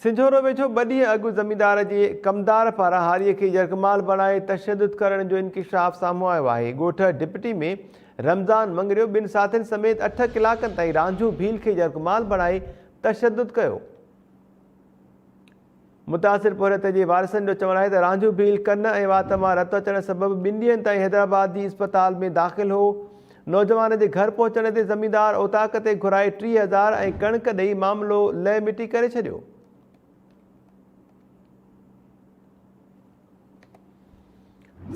سنجهورو ويجهو ٻه ڏينهن اڳ زميندار جي ڪمدار پاران هاريء کي يرغمال بڻائي تشدد ڪرڻ جو انڪشاف سامهون آيو آهي. ڳوٺ ڊپٽي ۾ رمضان مڱريو ٻن ساٿين سميت اٺ ڪلاڪن تائين رانجهو ڀيل کي يرغمال بڻائي تشدد ڪيو. متاثر پورهيت جي وارثن جو چوڻ آهي ته رانجهو ڀيل ڪن ۽ وات مان رت اچڻ سبب ٻن ڏينهن تائين حيدرآباد جي اسپتال ۾ داخل هو. نوجوان جي گهر پهچڻ تي زميندار اوطاق تي گهرائي ٽيهه هزار ۽ ڪڻڪ ڏئي معاملو لئه مٽي ڪري ڇڏيو.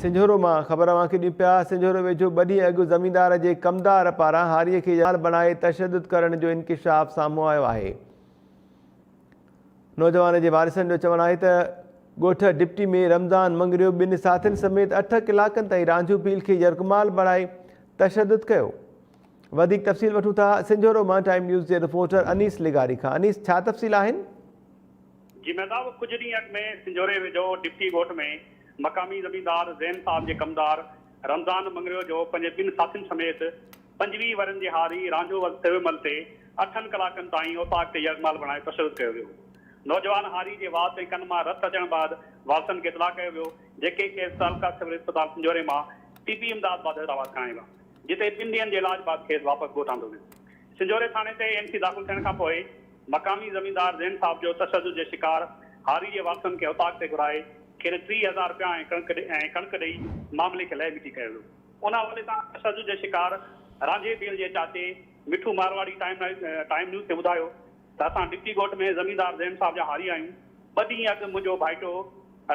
سنجهورو مان خبر اوهان کي ڏيون پيا، سنجهورو ويجهو ٻه ڏينهن اڳ زميندار جي ڪمدار پاران هاريء کي يار بڻائي تشدد ڪرڻ جو انڪشاف سامهون آيو آهي. نوجوان جي وارثن جو چوڻ آهي ته ڳوٺ ڊپٽي ۾ رمضان مڱريو ٻن ساٿين سميت اٺ ڪلاڪن تائين رانجهو ڀيل کي يرغمال بڻائي تشدد ڪيو. وڌيڪ تفصيل وٺون ٿا سنجهورو مان ٽائيم نيوز جي رپورٽر انيس لغاري کان انيس ڇا تفصيل آهن؟ جي مهتاب ڪجهه ڏينهن اڳ ۾ سنجهوري ويجهو ڊپٽي ڳوٺ ۾ مقامي زميندار زين صاحب جي ڪمدار رمضان مڱريو جو پنهنجي ٻن ساٿين سميت پنجويهه ورهين جي هاري رانجهو وز ٿيوي مهل تي اٺن ڪلاڪن تائين اوطاق تي يرغمال بڻائي تشدد ڪيو ويو. نوجوان هاري جي وات ۽ ڪن مان رت اچڻ بعد وارثن کي اطلاع ڪيو ويو، جيڪي کيس تعلقه سول اسپتال پنجوري مان طبي امداد بعد حيدرآباد کڻائي ويا، جتي ٻن ڏينهن جي علاج بعد کيس واپس ڳوٺ آندو ويو. سنجهوري ٿاڻي تي اين سي داخل ٿيڻ کان پوء مقامي زميندار زين صاحب جو تشدد جي شڪار هاري جي وارثن کي اوطاق تي گهرائي کين ٽيهه هزار رپيا ۽ ڪڻڪ ۽ ڪڻڪ ڏئي معاملي کي لهه مٽي ڪيو ويو. ان حوالي سان تشدد جي شڪار رانجهي ڀيل جي چاچي مٺو مارواڙي ٽائيم نيوز کي ٻڌايو ته اسان ڊگٽي ڳوٺ ۾ زميندار زين صاحب جا هاري آهيون، ٻه ڏينهن اڳ منهنجو ڀائٽو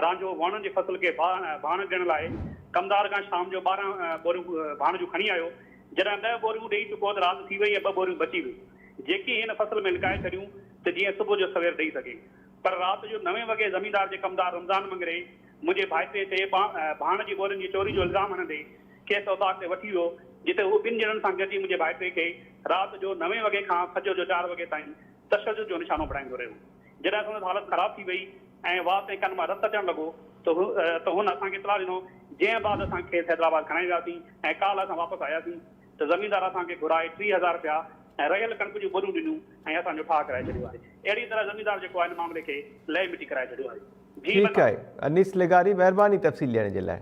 رانجهو وهڻن جي فصل کي ڀاڻ ڏيڻ لاء ڪمدار کان شام جو ٻارهن ٻوريون ڀاڻ جون کڻي آيو، جڏهن ڏهه ٻوريون ڏيئي چڪو ته رات ٿي وئي ۽ ٻه ٻوريون بچي ويون، جيڪي هن فصل ۾ لڪائي ڇڏيون ته جيئن صبح جو سوير ڏئي سگهي، پر رات جو نوين وڳي زميندار جي ڪمدار رمضان مڱري، منهنجي ڀائٽي تي ڀاڻ جي ٻولين جي چوري جو الزام هڻندي کيس اوطاق تي وٺي ويو، جتي هو ٻن ڄڻن سان گڏجي منهنجي ڀائٽي کي رات جو نوين وڳي کان فجر جو چار وڳي تائين تشدد جو نشانو بڻائيندو رهيو. جڏهن سندس حالت خراب ٿي وئي ۽ وات ۽ ڪن مان رت اچڻ لڳو ته هن اسان کي اطلاع ڏنو، جنهن بعد اسان کيس حيدرآباد کڻائي وياسين ۽ ڪالهه اسان واپس آياسين. ته زميندار اسان کي گهرائي ٽيهه هزار رپيا ۽ رهيل ڪڻڪ جون ٻرون ڏنيون ۽ اسان جو ٺاهه ڪرائي ڇڏيو آهي. اهڙيء طرح زميندار جيڪو آهي ان معاملي کي لئي مٽي ڪرائي ڇڏيو آهي. ڀيم ٺيڪ آهي انيس لغاري مهرباني تفصيل ڏيڻ جي لاء.